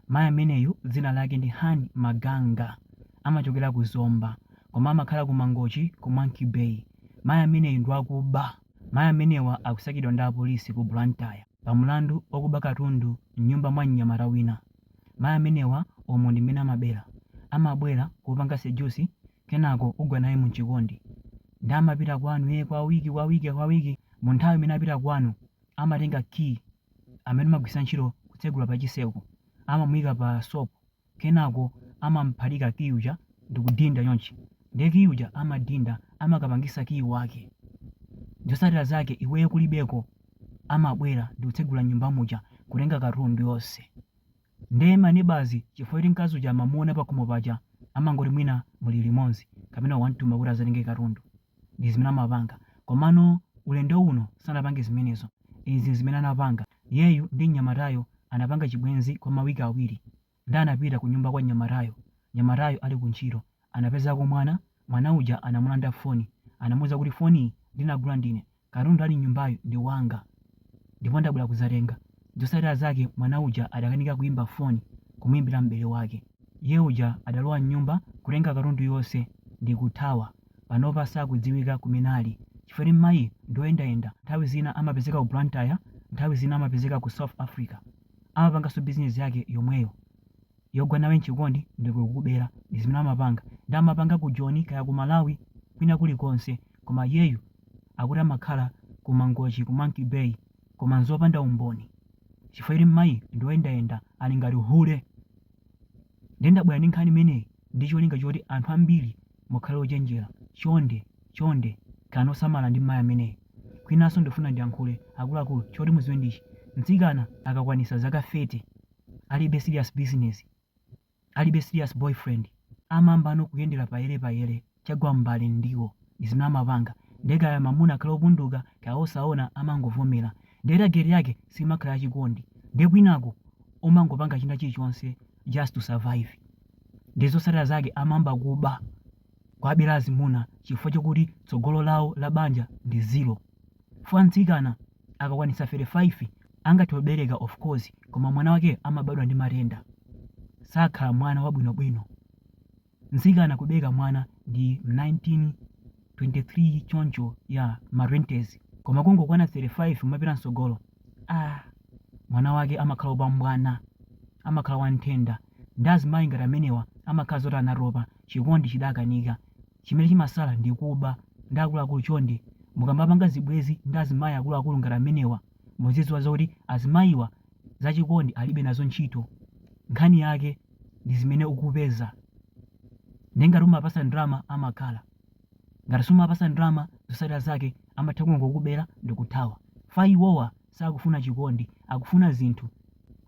Mayi ameneyu dzina lake ndi Hann Maganga amachokera ku Zomba koma amakhala ku Mangochi ku Monkey Bay. Mayi ameneyu ndi wakuba. Mayi amenewa akusakidwa ndi apolisi ku Blantyre pa mlandu wokuba katundu m'nyumba mwa mnyamata wina. Mayi amenewa umu ndi mmene amabera. Amabwera, kupanga seduce kenako ugwa naye mu chikondi. Nde amapita kwanu ee kwa week kwa week kwa week mu nthawi imene akupita kwanu amatenga key amene amagwiritsa ntchito kutsegula pa chiseko amamuika pa soap kenako amamuphatika key uja ndikudinda chonchi ndiye key uja amadinda amakapangisa key wake zosatira zake iweyo kulibeko amabwera ndikutsegula nyumba muja kutenga katundu yonse ndiye ma neighbours chifukwa choti mkazi uja amamuona pakhomo paja amangoti mwina muli limonzi kapena mwamutuma kuti azatenge katundu ndi zimene amapanga komano ulendo uno sanapange zimenezo izi nzimene anapanga iyeyu ndi mnyamatayo anapanga chibwenzi kwa ma week awiri nde anapita ku nyumba kwa mnyamatayo mnyamatayo ali ku ntchito anapezako mwana mwana uja anamulanda foni anamuuza kuti foniyi ndinagula ndine Katundu ali m'nyumbayu ndi wanga ndipo ndabwera kudzatenga. Zotsatira zake mwana uja adakanika kuimba foni kumuimbira m'bale wake. Iye uja adalowa m'nyumba, kutenga katundu yonse ndi kuthawa. Panopa sakudziwika kumene ali chifukwa choti mayiyu ndi woyendayenda. Nthawi zina amapezeka ku Blantyre nthawi zina amapezeka ku South Africa. Amapanganso bizinezi yake yomweyo. yogwa nawe mchikondi ndikukubela ndizimene amapanga nde amapanga ku joni kaya ku malawi kwina kuli konse koma iyeyu akuti amakhala ku mangochi ku monkey bay koma nzopanda umboni chifukwa choti mmayiyu ndioyendayenda ali ngati hule nde ndabwera ndi nkhani imeneyi ndi cholinga choti anthu ambiri mukhale ochenjera chonde chonde khalani osamala ndi mmayi ameneyu kwinaso ndifuna ndiyankhule akuluakulu choti muziwe ndi ichi mtsikana akakwanisa zaka 30 alibe serious business, alibe serious boyfriend, amayambano kuyendela payele payele chagwa m'mbale ndiwo ndizimene amapanga nde kaya mamuna akhale opunduka kaya osaona amangovomela nde target yake simakhala ya chikondi nde kwinaku amangopanga china chilichonse just to survive nde zotsatila zake amayamba kuba, kuwabela azimuna chifukwa chokuti tsogolo lawo la banja ndi zero chifukwa mtsikana akakwanitsa 35 angathe kubereka of course koma mwana wakeyo amabadwa ndi matenda sakhala mwana wabwinobwino. Mtsikana kubereka mwana ndi 19, 23 choncho ya ma 20's koma kungokwana 35 kumapita mtsogolo aah mwana wake amakhala opombwana amakhala wa nthenda nde azimayi ngati amenewa amakhala zoti anatopa chikondi chidakanika chimene chimasala ndi kuba ndiye akuluakulu chonde mukamapanga zibwezi ndi azimayi akuluakulu ngati amenewa muziziwa zoti azimayiwa za chikondi alibe nazo ntchito nkhani yake ndi zimene ukupeza ndiye ngati umapasa ndalama amakhala ngati sumapasa ndalama zosatira zake amatha kungokubera ndikuthawa chifukwa iwowa Sakufuna chikondi, akufuna zinthu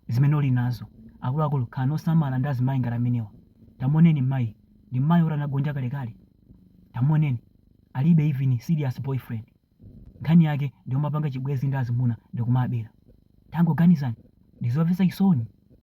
zimene uli nazo. Akuluakulu, khalani osamala ndi azimayi ngati amenewa. Tamuoneni mmayiyu, ndi mmayi woti anagonja kalekale. Tamuoneni, alibe even serious boyfriend. Nkhani yake ndi yomapanga chibwenzi ndi azimuna ndi kumabera. Tangoganizani, ndi zomvetsa chisoni.